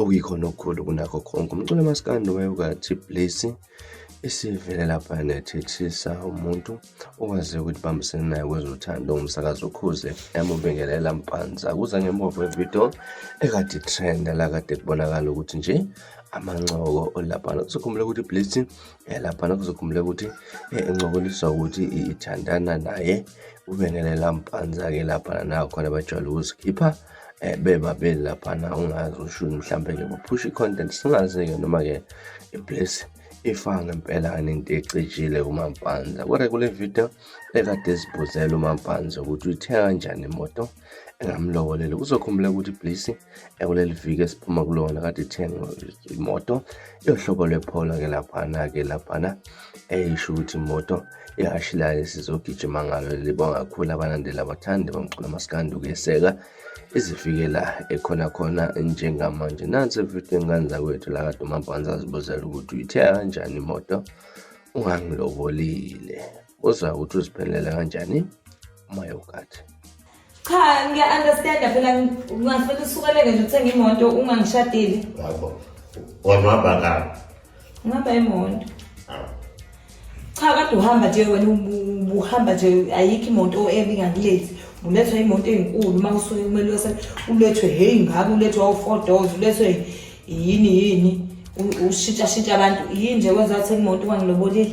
okuyikhona okukhulu kunakho konke umculo maskandi wayewukathi blesi esivele lapha nethethisa umuntu okwaziyo ukuthi bambisene naye kwezothando umsakazi ukhuze yamubingelela mpanza kuza ngembovo evidiyo ekade trenda la kade kubonakala ukuthi nje amancoko olaphana kuzokhumbula ukuthi blesi yalaphana eh, kuzokhumbula ukuthi eh, encokoliswa ukuthi ithandana naye ubengelela mpanza-ke laphana nakhona bajwayele ukuzikhipha eh, bebabili laphana ungazi ushuni mhlawumbe-ke baphusha i-content singazi-ke noma-ke iblesi ifa ngempela into ecijile kumampanza kodwa kule video ekade sibuzela umampanza ukuthi uyithenga kanjani imoto engamlobolele kuzokhumbula ukuthi iblisi ekuleli viki esiphuma kulona kade ithenga imoto yohlobo lwepholo-ke laphana-ke laphana eyisho ukuthi imoto Ihhashi layo sizogijima ngalo libonga kakhulu abalandeli abathandi bamculo maskandi ukuyeseka izifikela ekhona khona njengamanje nansi ividiyo engane zakwethu lakade umabhanza azibuzela ukuthi uyithiya kanjani imoto ungangilobolile uzwa ukuthi uziphelele kanjani umayokathi Cha ngiya understand phela ngingafuna usukeleke nje uthenge imoto ungangishadile. Yabo. Wamaba ka. Ngaba imoto. Awu. Cha kade uhamba nje wena ubu- uhamba nje ayikho imoto ebe ingakulethi. Ulethwa imoto enkulu uma usuke kumele wese ulethwe hey ngabe ulethwa u4 doors ulethwe yini yini u- ushintsha shintsha abantu yini nje kwenza uthenge imoto wangilobolile.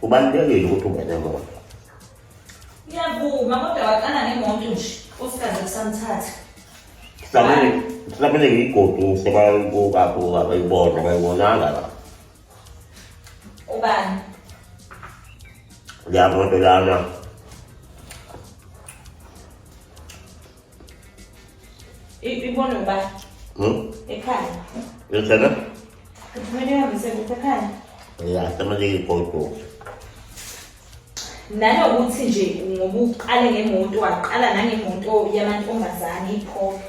Kubalulekile ukuthi ube nemoto. Ngiyavuma kodwa waqala ngemoto nje osikaze kusamthatha. Samele samele ngiyigoduse bayibuka buka bayibona bayibonanga la. Ubani? Yamoto lana. ibona uba hmm? ekhaya yosana kumele uhambise kuthi ekhaya ya semaleke igodogo nanokuthi nje ngoba uqale ngemoto waqala nangemoto yamantombazane iphopha